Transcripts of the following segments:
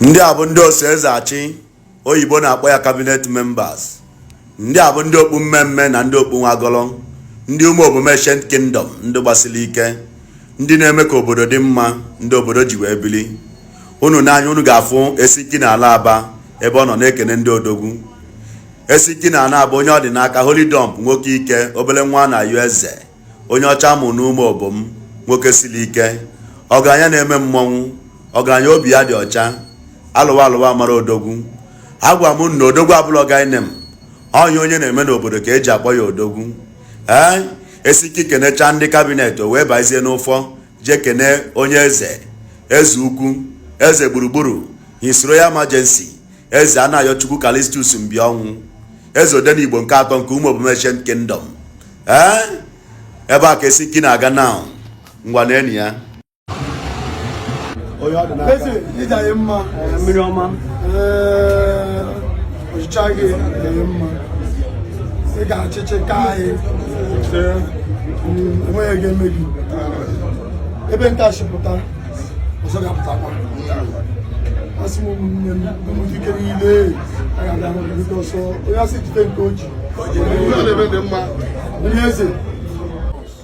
ndị a bụ ndị oso eze achị oyibo na-akpọ ya kabinet members ndị a bụ ndị okpu mme mme na ndị okpu nwagọrọ ndị ụmụobom ancient kingdom ndị gbasili ike ndị na-eme ka obodo dị mma ndị obodo ji wee bili unu nee anya unu ga-afụ esiki na ala aba ebe ọ nọ na-ekene ndị odogwu esiki na ala aba onye ọ dị n'aka holidom nwoke ike obele nwa na-ayọ eze onye ọcha a mụ n'ụmụobom nwoke sili ike ọgaranya na-eme mmọnwụ ọgaranya obi ya dị ọcha alụwa alụwa amara odogwu agwa m na odogwu abụlọ guy name ọ ihe onye na-eme n'obodo ka eji akpọ ya odogwu ee esiki kenecha ndị kabinet o wee bazie n'ụfọ jee kene onye eze eze ukwu eze gburugburu his royal majesty eze anayochukwu callistus mbịọnwụ eze odenigbo nke atọ nke ụmụobom ancient kingdom ee eh? ebe a ka esiki na-aga now ngwa na enyi ya onye ọ dị n'aka eze ịja ya mma mmiri ọma eh, ọchịchị gị dị mma ị ga-achịchị ka anyị enweghị ihe ga-eme gị ebe nke a si pụta ọzọ ga-apụtakwa asị m ụmụnne m ụmụdike niile a ga-abịa hụ gị ọsọ onye a sị jide nke o ji onye eze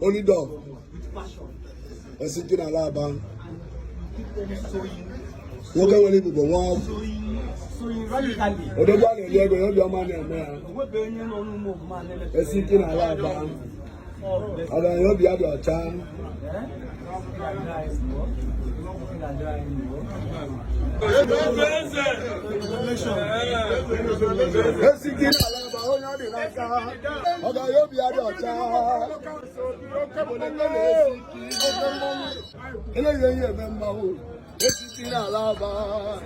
Holidom. Esiki n'ala aba. Nwoke nwere ebube nwa. Odogwu a na-eli ego ya obiọma na-eme ya. Esiki n'ala aba. Ọgaranya obi ya dị ọcha. Esiki n'ala aba onye ọ dị n'aka ọgaranya obi ya dị ọcha eleghị ihe eme mmanwụ esiki n'ala